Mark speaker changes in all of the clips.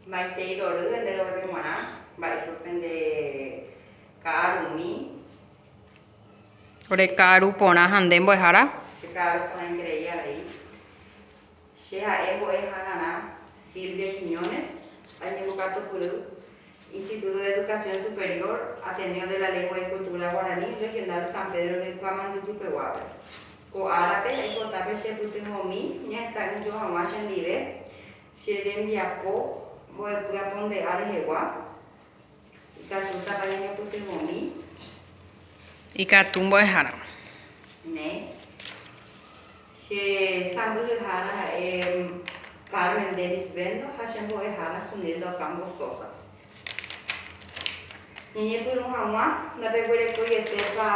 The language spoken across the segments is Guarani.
Speaker 1: Maitei rory ende roguépe g̃uarã, mba'éichapa pende ka'aru umi.
Speaker 2: Ore ka'aru porã ha nde mbo'ehára. Che ka'aru porã
Speaker 1: ingrei avei. Che ha'e mbo'e hagarã Silvia Quiñones, añembokatupyry Instituto de Educación Superior, Ateneo de la Lengua y Cultura Guaraní, Regional San Pedro de Kuamanduju peguápe. Ko árape, aipota pe chepytyvõmi ñahesa'ỹijo hag̃ua chendive Che rembiapo mbo'epy aponde'a rehegua, ikatútapa ñañopytyvõmi.
Speaker 2: Ikatu mbo'eháramo. Ne.
Speaker 1: Che sãmbyhyhára ha'e Carmen Denis Bendo ha che mbo'ehára Sunilda Ocampo Sosa. Ñañepyrũ hag̃ua ndapeguerekóietépa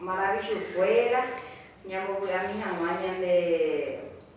Speaker 1: maravichukuéra ñambovy'ami hag̃ua ñande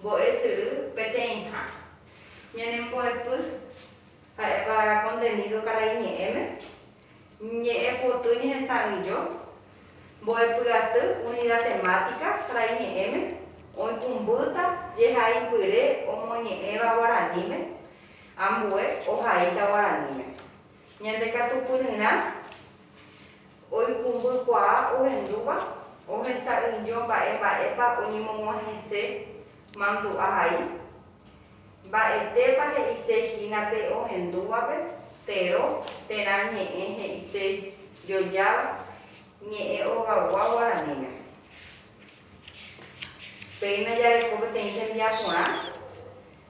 Speaker 1: Mbo'esyry peteĩha. Ñanembo'epy, ha'épa kontenido karai ñe'ẽme, ñe'ẽ poty ñehesa'ỹijo, mbo'epyaty unida temática karai ñe'ẽme, oikũmbýta jehaipyre omoñe'ẽva guaraníme, ambue ohaíta guaraníme. Ñande katupyryrã oikumbykuaa ohendúva ohesa'ỹijo mba'e mba'épa oñemog̃uahẽse mandu'a hai. Mba'etépa he'ise hína pe ohendúvape tero terã ñe'ẽ he'ise jojáva ñe'ẽ ogagua guaraníme. Péina jareko peteĩ tembiaporã.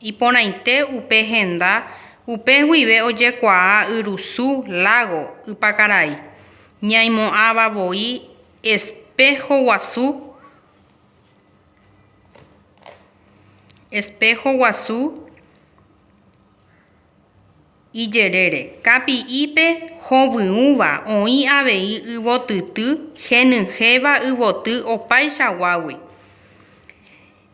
Speaker 2: Iporãite upe henda upe guive ojekuaa yrusu, lágo, ypakarai, ñaimo'ãva voi espého guasu, espého guasu ijerére, kapi'ipe hovyũva oĩ avei yvotyty henyhẽva yvoty opaichaguágui.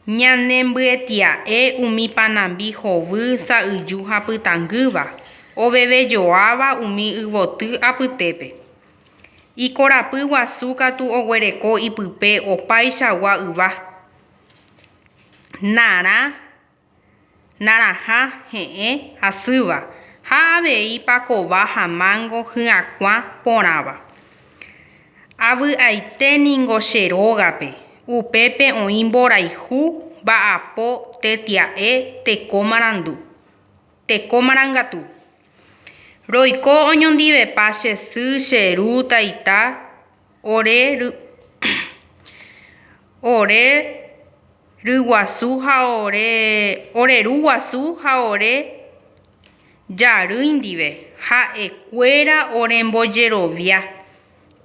Speaker 2: Ñanembyetia'e umi panambi hovy, sa'yju ha pytangýva, ovevejoáva umi yvoty apytépe. Ikorapy guasu katu oguereko ipype opaichagua yva, narã, narãha he'ẽ asýva ha avei pakova ha mángo hyakuã porãva. Avy'aite ningo che rógape, upépe oĩ mborayhu mba'apo tetia'e teko marandu, teko marangatu. Roiko oñondivepa che sy, che ru, taita, ore ru guasu ha ore jarýi ndive, ha'ekuéra orembojerovia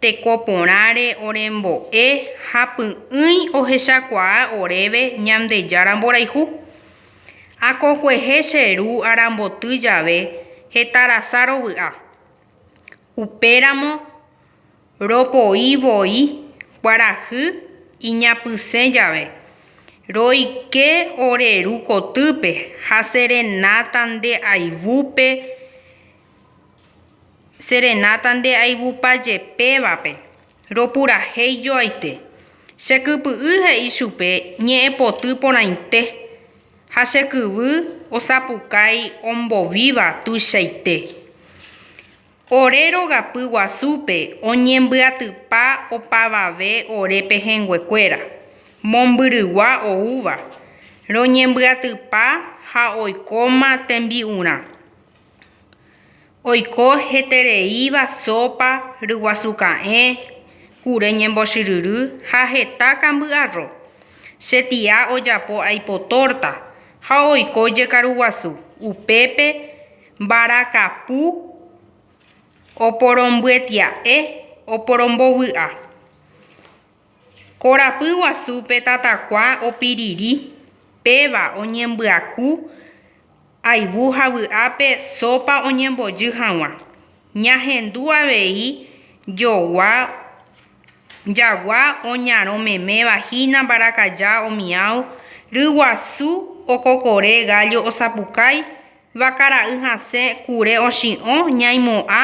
Speaker 2: teko porãre orembo'e ha py'ỹi ohechakuaa oréve Ñandejára mborayhu. Akokue che ru aramboty jave hetarasa rovy'a. Upéramo ropoi voi kuarahy iñapysẽ jave, roike ore ru kotýpe ha serenáta nde aivúpe, serenáta nde aivupa jepévape. Ropurahéi joaite. Che kypy'y he'i chupe ñe'ẽpoty porãite, ha che kyvy osapukái ombovíva tuichaite. Ore rogapy guasúpe oñembyatypa opavave ore pehẽnguekuéra, mombyrygua oúva, roñembyatypa ha oikóma tembi'urã. Oiko hetereíva sópa, ryguasu ka'ẽ, kure ñembochyryry ha heta kamby'arro. Che tia ojapo aipo tórta ha oiko jekaruguasu, upépe mbarakapu oporombyetya'e oporombovy'a. Korapy guasúpe tatakua opiriri, péva oñembyaku ayvu ha vy'ápe sópa oñembojy hag̃ua. Ñahendu avei jogua jagua oñarõmeméva hína mbarakaja omião, ryguasu okokore gállo osapukái, vakara'y hasẽ kure ochi'õ ñaimo'ã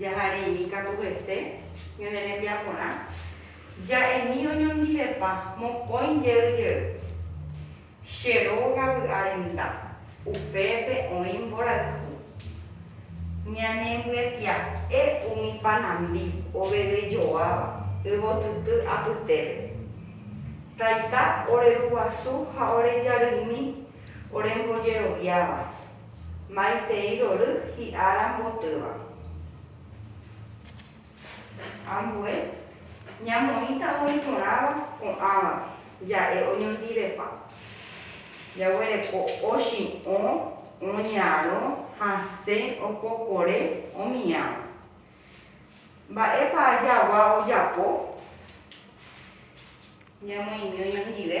Speaker 1: Jahareimi katu hese ñane rembiaporã, ja'emi oñondivepa mokõi jey jey. Che róga vy'a renda, upépe oĩ mborayhu. Ñane mbyetia'e umi panambi oveve joáva yvotyty apytépe. Taita ore ruguasu ha ore jarymi ore mbojeroviáva, Maitei rory hi'a rambotýva. Ambue ñamoĩta oĩ porãva ko'ãvape, ja'e oñondivepa. Jaguereko ochi'õ, oñarõ, hasẽ, opokore, omiãva. Mba'épa jagua ojapo ñamoĩmi oñondive?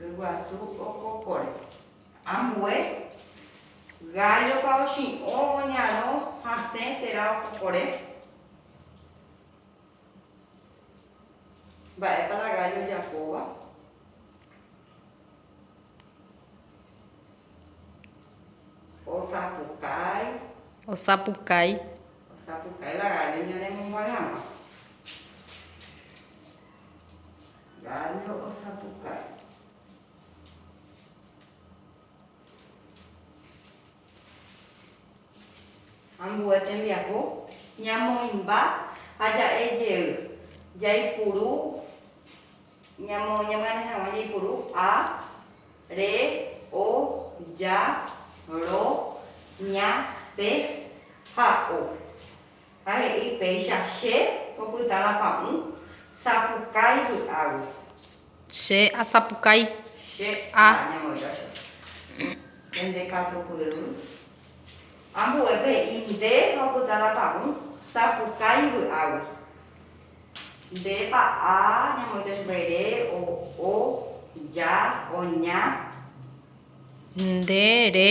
Speaker 1: Ryguasu okokóre. Ambue, gállopa ochi'õ oñarõ hasẽ térã okokóre? Mba'épa la gállo ojapóva?
Speaker 2: Osapukái. Osapukái. Osapukái
Speaker 1: la gállo ñanemombyai hag̃ua. Gallo osapukái. Ambue tembiapo ñamoĩmba ha ja'e jey. Jaipuru, ñamoñemoñare hag̃ua jaipuru, a, re, o, ja, ro, ña, pe ha o. ha he'i péicha che opyta la pa'ũ sapukái vy'águi. Che
Speaker 2: asapukái. Che a.
Speaker 1: Añemoĩta che. Pende katupyry. Ambue pe i nde ha opyta la pa'ũ sapukái vy'águi. Nde pa a ñamoĩta chupe ere, o, o, ja, oña. Nde
Speaker 2: re.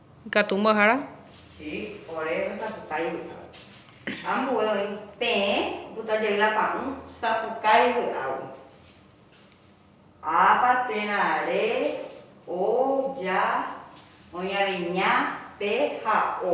Speaker 2: Ikatu mbo'ehára. Xi,
Speaker 1: ore rosapukái vy'águi. Ambue oĩ peẽ oputa jey la pa'ũ sapukái vy'águi. Ápa térã re, o, ja, oĩ avei ña, pe ha o.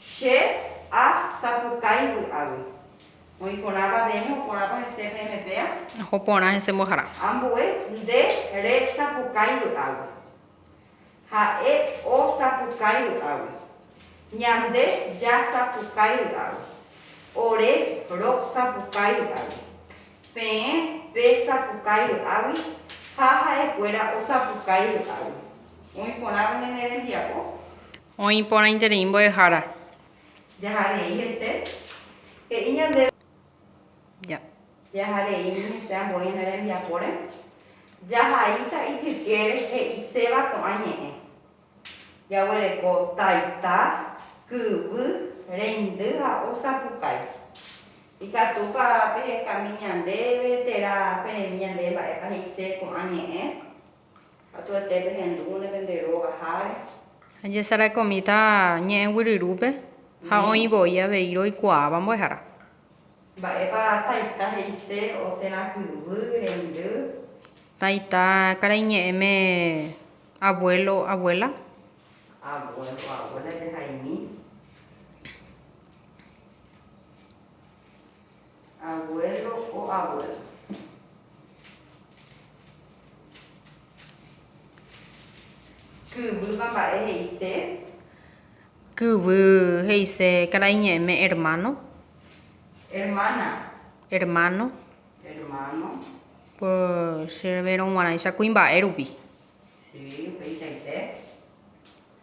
Speaker 1: Che a sapukái vy'águi. Oĩ porãva peẽme, oporãpa hese peẽme péa. Oho porã hese
Speaker 2: mbohara. Ambue nde
Speaker 1: re sapukái vy'águi. Ha'e o sapukái vy'águi. Ñande ja sapukái vy'águi. Ore ro sapukái vy'águi. Peẽ pe sapukái vy'águi ha ha'e kuéra o sapukái vy'águi. Oĩ porãva ñane rembiapo. Oĩ
Speaker 2: porãiterei mbo'ehára. Jaha
Speaker 1: rei hese, he'i ñandéve. Ja.
Speaker 2: Jaha rei
Speaker 1: ni hese ambue ñane rembiapóre, jahaíta ijykére he'iséva ko'ã ñe'ẽ. Jaguereko taita, kyvy, reindy ha osapukái. Ikatúpa pehekami ñandéve térã peremi ñandéve mba'épa he'ise ko'ã ñe'ẽ? Katuete pehendúne pende róga háre. Ha jesarakomíta
Speaker 2: ñe'ẽ guyryrupe ha oĩ voi avei roikuaáva mbo'ehára. Mba'épa
Speaker 1: taita he'ise o térã kyvy rendy? Taita
Speaker 2: karai ñe'ẽme abuélo abuéla. Abuélo abuéla
Speaker 1: jehaimi. Abuelo o abuela. Kyvýva mba'e he'ise.
Speaker 2: Kyvy he'ise karai ñe'ẽme hermano.
Speaker 1: Hermana. Hermano.
Speaker 2: Hermano.
Speaker 1: Por
Speaker 2: che revérõ guarãicha kuimba'e rupi. Sí, upeichaite.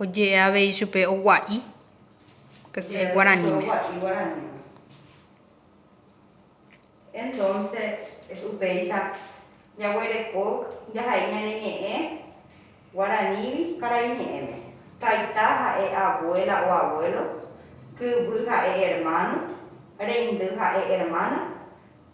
Speaker 2: Oje'e avei chupe ogua'i guaraníme.
Speaker 1: Upéicha jaguereko jahai ñane ñe'ẽ guaranígui karai ñe'ẽme. Taita ha'e abuela o abuelo, kyvy ha'e hermano, reindy ha'e hermana.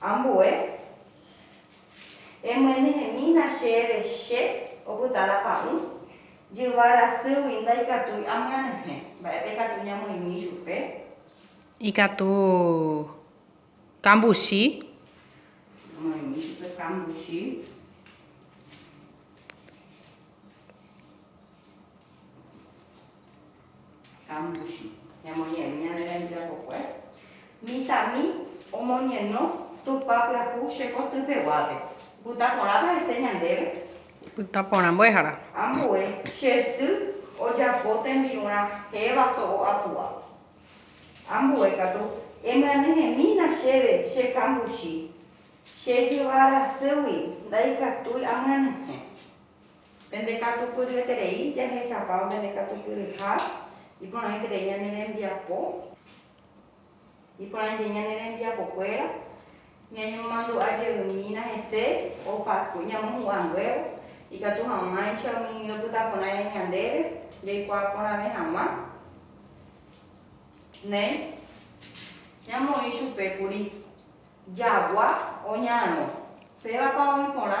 Speaker 1: Ambue, emyenyhẽmína chéve che opyta la pa'ũ, jyva rasýgui ndaikatúi amyenyhẽ. Mba'épa ikatu ñamoĩmi ichupe? Ikatu
Speaker 2: kambuchi.
Speaker 1: Amoĩmi ichupe kambuchi. Hambuchi. Ñamoñe'ẽmi ñane rembirapokue. Mitãmi omoñeno Tupã pyahu che koty peguápe. Pytã porãpa hese ñandéve. Pytã porã
Speaker 2: mbo'ehára.
Speaker 1: Ambue che sy ojapo tembi'ũ rahéva so'o apu'a. Ambue katu emyanyhẽmína chéve che kambuchi. Che jyva rasýgui ndaikatúi amyanyhẽ. Pende katupyryeterei jahechapávo pende katupyryha, iporãiterei ñane rembiapo, iporãiterei ñane rembiapokuéra, ñañemomandu'a jeymína hese opa ñamohu'ãnguévo, ikatu hag̃uáicha umi opyta porã ñandéve jaikuaa porãve hag̃ua. Néi, ñamoĩ chupe kuri, Jagua oñarõ, pévapa oĩ porã?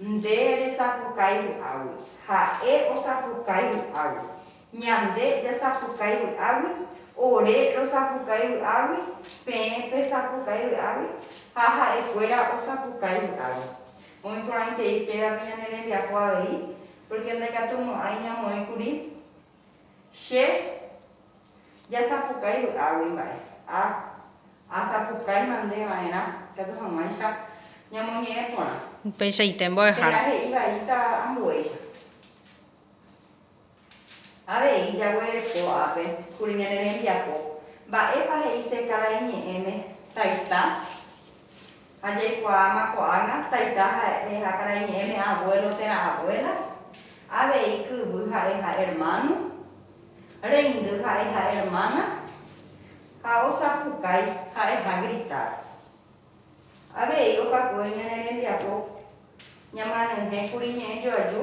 Speaker 1: Nde resapukái vy'águi, ha'e osapukái vy'águi, ñande jasapukái vy'águi, ore rosapukái vy'águi, peẽ pesapukái vy'águi ha ha'ekuéra osapukái vy'águi. Oĩporãitei pévape ñane rembiapo avei, pórke ndaikatumo'ãi ñamoĩkuri. Che jasapukái vy'águi mba'e. Ha asapukái mande va'erã ikatu hag̃uáicha ñamoñe'ẽ porã. Upeichaite
Speaker 2: mbo'ehára. Térã he'i vaíta
Speaker 1: ambuéicha. Avei jaguereko ápe kuri ñane rembiapo. Mba'épa he'ise kada iñe'ẽme, Taita? Ha jaikuaáma ko'ág̃a taita ha'e ha karai ñe'ẽme avuélo térã avuéla, avei kyvy ha'e ha ermáno, reindy ha'e ha ermána, ha osapukái ha'e ha gritar. Avei opakue ñane rembiapo ñamyanyhẽkuri ñe'ẽjoaju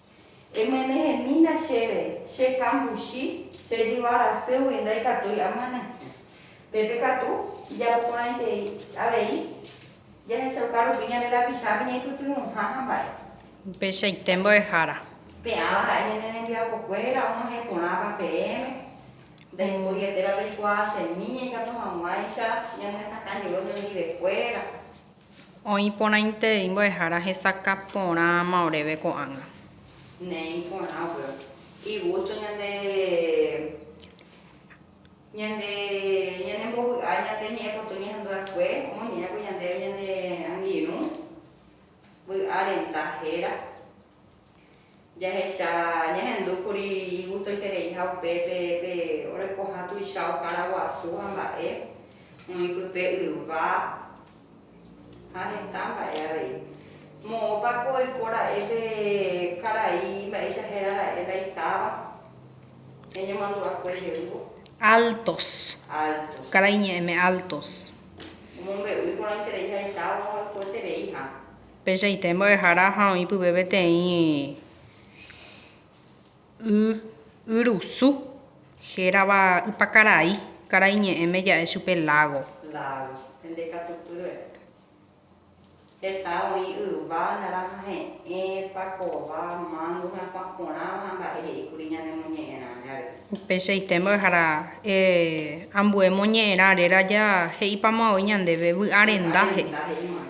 Speaker 1: Emyenehemína chéve, che kambuchi, che jyva rasýgui ndaikatúi amyene. Pépe katu, ijapoporãitei avei, jahechauka rupi ñande lapichápe ñaipytyvõha hamba'e. Upeichaite
Speaker 2: mbo'ehára. Pe'ãva ha'e
Speaker 1: ñane rembiapokuéra og̃uahẽ porãva peẽme, ndaipoieteva peikuaa semíña ikatu hag̃uáicha ñanesakãjey oñondivekuéra. Oĩ
Speaker 2: porãite imbo'ehára hesakã porãma oréve ko'ág̃a. Néi
Speaker 1: porã upéva. Igusto ñande ñande ñanembovy'a ñande ñe'ẽpoty ñehandu'akue omoñe'ẽramo ñandéve ñane angirũ vy'a renta héra. Jahecha ñahendu kuri igustoiterei ha upe pe orekoha tuicha okára guasu ha mba'e oĩ pype yva ha heta mba'e avei. Moõpa ko oiko ra'e pe karai mba'éicha héra ra'e la itáva ñañemandu'akue jeývo. Altos.
Speaker 2: Altos. Karai ñe'ẽme altos. Omombe'úi
Speaker 1: porãiterei ha itáva ha oikoetereiha. Pechaite mbo'ehára
Speaker 2: ha oĩ pype peteĩ y yrusu hérava Ypakarai, karai ñe'ẽme ja'e chupe lágo. Lágo. Hende
Speaker 1: katu pýre. Heta oĩ yva, narãha he'ẽ, pakova, mángo ha kuã porãva ha mba'e he'i kuri ñanemoñe'ẽrã jave. Pechaite mbo'ehára
Speaker 2: e ambue moñe'ẽrã réra ja he'ipamavo'i ñandéve, vy'a renda he'i. Vy'a renda he'imiva'erã.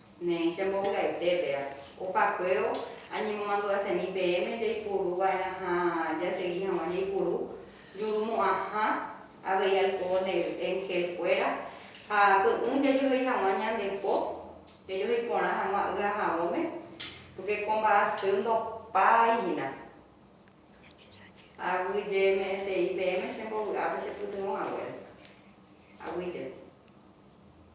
Speaker 2: Ne che
Speaker 1: mbovy'aite, péa, opa kuévo añemomandu'asemi peẽme jaipuru va'erã ha jasegi hag̃ua jaipuru juru mo'ãha avei alko ne enhél kuéra, ha py'ỹ jajohéi hag̃ua ñande po, jajohéi porã hag̃ua y ahãvõme, pórke ko mba'asy ndopái hína. Aguyjeme'ẽtei peẽme che mbovy'ápe chepytyvõ haguére. Aguyje.